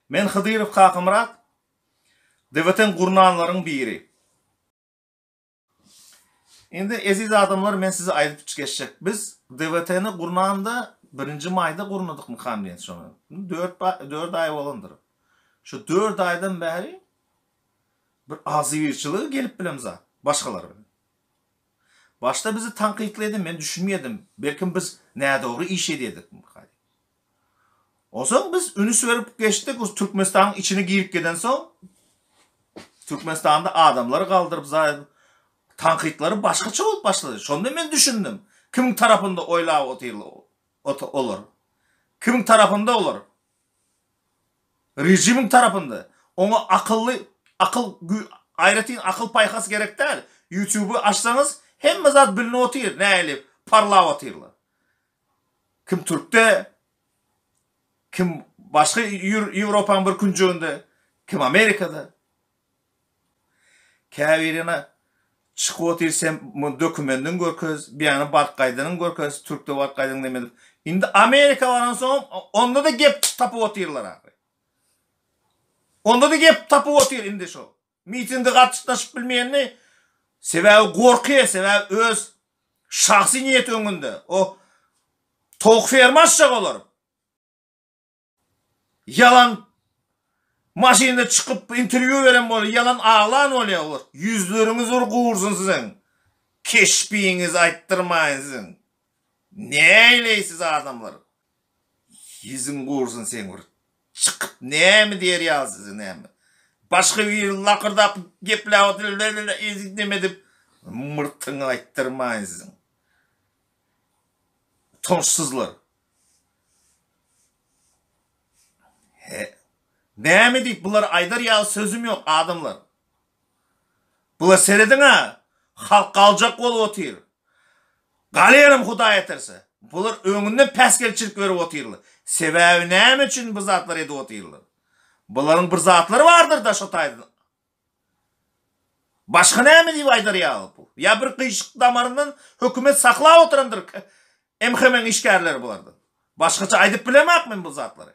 Men Hydyrow Kakamyrat. Dewletiň gurnanlaryň biri. Indi eziz adamlar men size aýdyp geçjek. Biz DWT-ni gurnanda birinji maýda gurnadykmykam diýen şony. Dört dört aý bolandyr. Şu dört aýdan bäri bir agzybirçiligi gelip bilen zat. Başgalar bilen. Başda bizi tankytlaýdy, men düşünmeýärdim. Belkim biz nädogry iş edýädikmika. Onsoň biz ünüs berip geçdik, o Türkmenistanyň içine girip gidensoň, Türkmenistanda adamlary galdyryp zaýa tankytlary başgaça bolup başlady. Şonda men düşündim, kimiň tarapynda oýlap otyrlar olar. Kimiň tarapynda olar? Režimiň tarapynda. Oňa akylly, akyl aýratyn akyl paýhas gerek däl. Ýutuby açsaňyz, hemme zat bilnip otyr, nähili parlap otyrlar. Kim Türkde, kim başga Ýewropanyň bir künjeginde, kim Amerikada. Käbirine çykyp otyr sen muny dokumendiňi görkez, beýany baryp gaýdanyňy görkez, Türkde baryp gaýdaňy näme edip. Indi Amerika baransoňam onda-da gep tapyp otyrlar ahyry. Onda-da gep tapyp otyr indi şo Mitinge gatşytnaşyp bilmeýänini sebäbi gorky sebäbi öz şahsy niýeti öňünde o towuk ferma açjak olar ýalan maşynda çykyp interwýu beren bolýar ýalan aglan bolýar ýüzleriňiz bir gursun siziň keşbiňizi aýtdyrmaýyn siziň. Näleýsiz adamlar. Ýüzüň gursyn seň bir çykyp näme diýer ýaly size näme. Başga biri lakyrdap gepläp otyr lelele eýdip neme edip myrtyňy aýtdyrmaýyn siziň. Utançsyzlar. He. Näme diýip bular aýdar ýaly sözüm ýok adamlar. Bula serediň-ä, halk galjak bolup otyr. Galýanam Hudaý eterse. Bular öňünden päsgelçilik berip otyrlar. Sebäbi näme üçin bu zatlary edip otyrlar? Bularyň bir zatlary bardyr-da şo taýdan. Başga näme diýip aýdar ýaly bu? Ýa bir gyşyk damaryndan hökümet saklap oturandyr MHM-iň işgärleri bulardan. Başgaça aýdyp bilemak men bu zatlary.